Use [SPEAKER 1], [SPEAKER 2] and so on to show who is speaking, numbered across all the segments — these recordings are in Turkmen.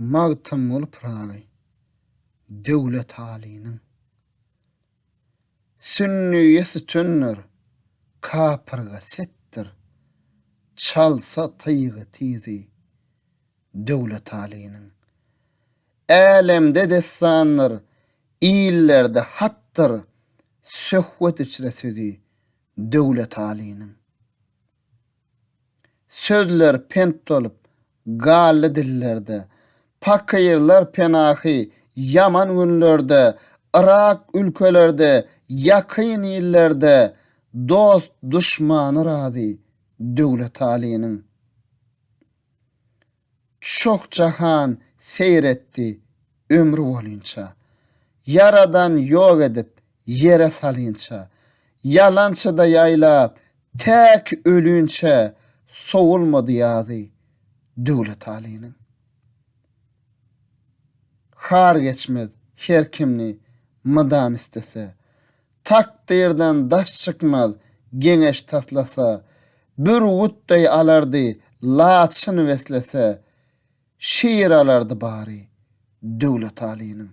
[SPEAKER 1] Magtymguly Pyragy Döwlet Alynyň Sünniýe sütündir, kapyrga setdir, Çalsa tyýgy tizi Döwlet Alynyň. Älemde dessandyr, illerde hatdyr, Söhbet içre sözi Döwletalynyň sözleri pent bolup galdy dillerde, Pakyrlar penahy ýaman günlerde, Yrak ülkelerde, ýakyn illerde, Dost-duşmany razy Döwletalynyň Çoh jahan seýr etdi ömri bolynça, Ýaradan ýok edip ýere salynça, Ýalançyda ýaýlap täk ölünçä, Sowulmady ýazy Döwlet Alynyň. Har geçmez her kimni mydam istese, Takdyrdan daş çykmaz geňeş taslasa, Bürgüt deý alardy laçyn beslese, Şir alardy bary Döwletalynyň.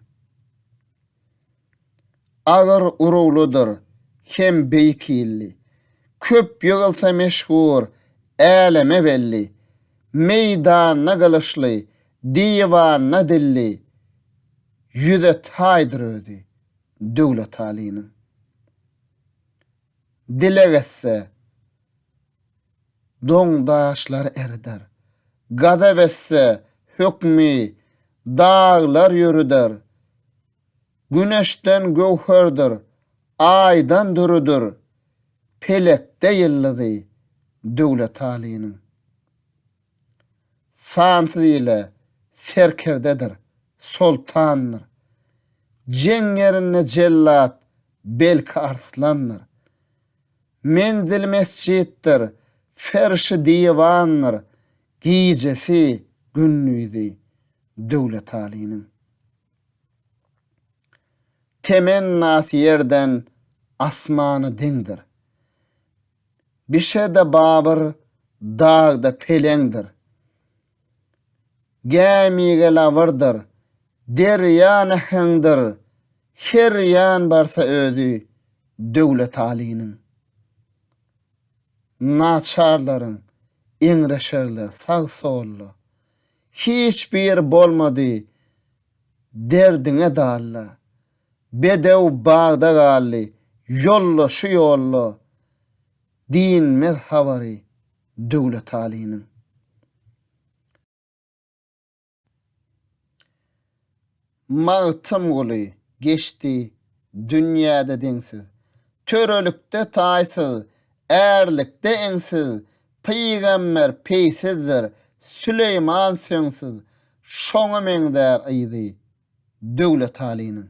[SPEAKER 1] Agyr uruglydyr hem beýik hilli, Köp ýygylsa meşhur, äleme belli, Meýdanda gylyçly, diwanda dilli, Ýüze taýdyr özi Döwletalynyň Dileg etse, doň daşlar erider, Gazap etse, hökmi daglar ýörüder, Güneşden göwherdir, Aýdan dürüdir, Pelekde ýyldyzy Döwletalynyň. Sansyz ile serkerdedir, soltandyr. Jeň ýerinde jellat, belki arslandyr. Menzili mesjitdir, ferşi diwandyr, gijesi, gündizi Döwletalynyň. Temennasy ýerden asmana deňdir. Bişede babyr, dagda peleňdir. Gämige labyrdyr, derýa näheňdir, her ýan barsa özi Döwletalynyň. Naçarlaryň eňreşerler sag-solda. Hiç biri bolmady derdiňe dalla. Bedew bagda galdy, ýolda şu ýolda Dinmez habary Döwletalynyň. Magtymguly geçdi dünýäde deňsiz, Törelikde taýsyz, ärlikde eňsiz, Pygamber peýsizdir, Süleýman söňsüz, Şoňa meňzär yzy, Döwletalynyň.